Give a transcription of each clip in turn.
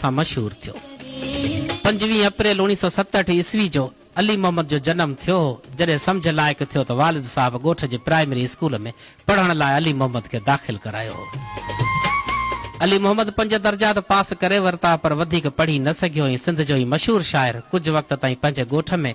سان مشهور ٿيو. پنجويهه اپريل اوڻيهه سؤ ستهٺ عيسوي جو علي محمد جو جنم ٿيو هو. جڏهن سمجهه لائق ٿيو ته والد صاحب ڳوٺ جي پرائمري اسڪول ۾ پڙهڻ لاء علي محمد کي داخل ڪرايو هو. علي محمد پنج درجا ته پاس ڪري ورتا پر وڌيڪ پڙهي نه سگهيو ۽ سنڌ جو هي مشهور شاعر ڪجهه وقت تائين پنهنجي ڳوٺ ۾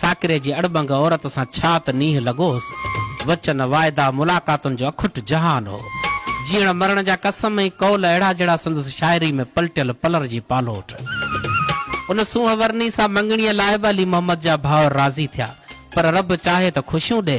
ساڪري جي اڙٻنگ عورت سان ڇا ته نينهن لڳو هوس. وچن، واعدا، ملاقاتن جو اکٽ جهان هو. جيئڻ مرڻ جا قسم ۽ قول اهڙا جهڙا سندس شاعري ۾ پلٽيل پلر جي پالوٽ. ان سونهن ورني سان مڱڻيء لاء به علي محمد جا ڀائر راضي ٿيا. پر رب چاهي ته خوشيون ڏي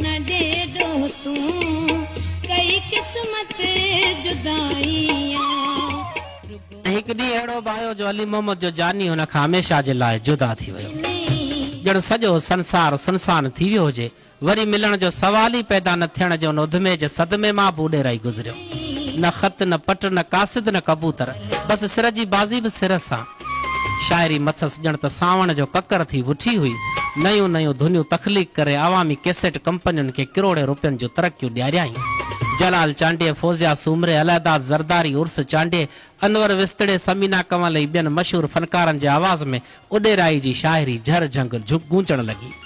نه ڏي ڏوهتون ڪئي قسمت جدائيان. ۽ هڪ ڏينهن اهڙو به آيو جو علي محمد جو جاني هن کان هميشه جي لاء جدا ٿي ويو. ڄڻ سڄو سنسار سنسان ٿي ويو هجي. وري ملڻ جو سوال ئي پيدا نه ٿيڻ جو ان اڌمي جي صدمي مان به اڏيرائي گذريو. نه خط نه پٽ نه قاصد نه ڪبوتر. بس سر جي بازي به سر سان. شاعري مٿس ڄڻ ته سانوڻ جو ڪڪر ٿي وٺي هئي. نيون نيون ڌنيون تخليق ڪري عوامي ڪيسيٽ ڪمپنين کي ڪروڙين روپين جون ترقيون ڏياريائين. جلال چانڊيي، فوزيا سومري، الهداد زرداري، عرس چانڊيي، انور وسطڙي، ثمينه ڪنول ۽ ٻين مشهور فنڪارن جي آواز ۾ اڏيرائي جي شاعري جهر جهنگ گونجڻ لڳي.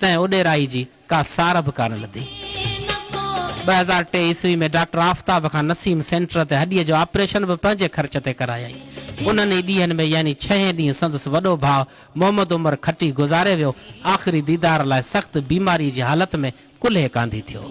تنهن اڏيرائي جي ڪا سار به ڪانه لڌي. ٻه هزار ٽي عيسوي ۾ ڊاڪٽر آفتاب کان نسيم سينٽر تي هڏيء جو آپريشن به پنهنجي خرچ تي ڪرايائين. انهن ئي ڏينهن ۾ يعني ڇهين ڏينهن سندس وڏو ڀاء محمد عمر کٽي گذاري ويو. آخري ديدار لاء سخت بيماريء جي حالت ۾ ڪلهي ڪانڌي ٿيو.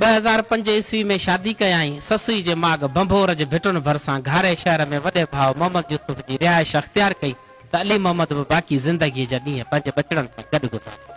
ٻه هزار پنج عيسوي ۾ شادي ڪيائين. سسئي جي ماڳ ڀنڀور جي ڀٽن ڀرسان گهاري شهر ۾ وڏي ڀاء محمد يوسف جي رهائش اختيار ڪئي ته علي محمد به باقي زندگيء جا ڏينهن پنهنجي ٻچڙن سان گڏ گذاريا.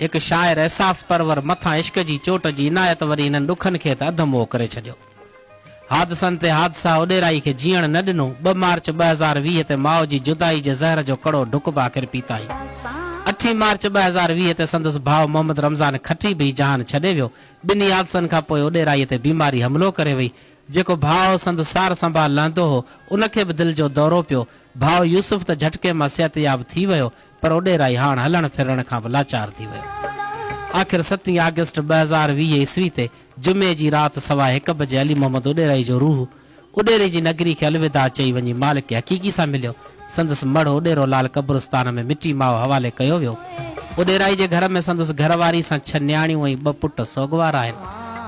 هڪ شاعر احساس پرور مٿان عشق جي چوٽ جي عنايت وري هنن ڏکن کي ته اڌ موء ڪري ڇڏيو. حادثن تي حادثا اڏيرائي کي جيئڻ نه ڏنو. ٻه مارچ ٻه هزار ويهه تي ماء جي جدائي جي زهر جو ڪڙو ڍڪ به آخر پيتائين. اٺين مارچ ٻه هزار ويهه تي سندس ڀاء محمد رمضان کٽي به هي جهان ڇڏي ويو. ٻنهي حادثن کان پوء اڏيرائي تي بيماري حملو ڪري وئي. جيڪو ڀاء سندس سار سنڀال لهندو هو، ان کي به دل جو دورو پيو. ڀاء يوسف ته جهٽڪي مان صحتياب ٿي ويو. پر اوڏي رائحاڻ هلڻ ڦرڻ کان به لاچار ٿي ويو. آخر ستين آگسٽ ٻه هزار ويهه عيسوي تي جمعي جي رات سوا هڪ بجي علي محمد اوڏيرائي جو روح اوڏيري جي نگري کي الوداع چئي وڃي مالڪ حقيقي سان مليو. سندس مڙهه اوڏيرو لال قبرستان ۾ مٽي ماء حوالي ڪيو ويو. اوڏيرائي جي گهر ۾ سندس گهر واري سان ڇهه نياڻيون ۽ ٻه پٽ سوڳوار آهن.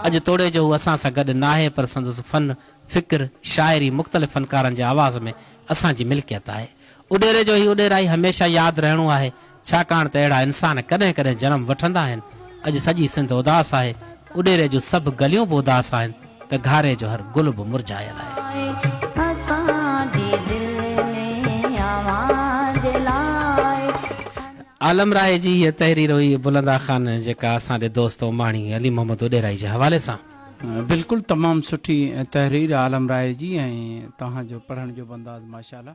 اڄ توڙي جو هو اسان سان گڏ ناهي پر سندس فن، فڪر، شاعري مختلف فنڪارن جي آواز ۾ اسان جي ملڪيت آهي. اڏيري جو هي اڏيرائي هميشه ياد رهڻو آهي، ڇاڪاڻ ته اهڙا انسان ڪڏهن ڪڏهن جنم وٺندا آهن. اڄ سڄي سنڌ اداس آهي، اڏيري جون سڀ گليون به اداس آهن ته گهاري جو هر گل به مرجهايل آهي. عالم راهي جي هيء تحرير هئي بلند آخان جيڪا اسان جي دوست اوماڻي علي محمد اڏيرائي جي حوالي سان بلڪل تمام سٺي تحرير عالم راهي جي ۽ توهان جو پڙهڻ جو بنداز ماشاءالله.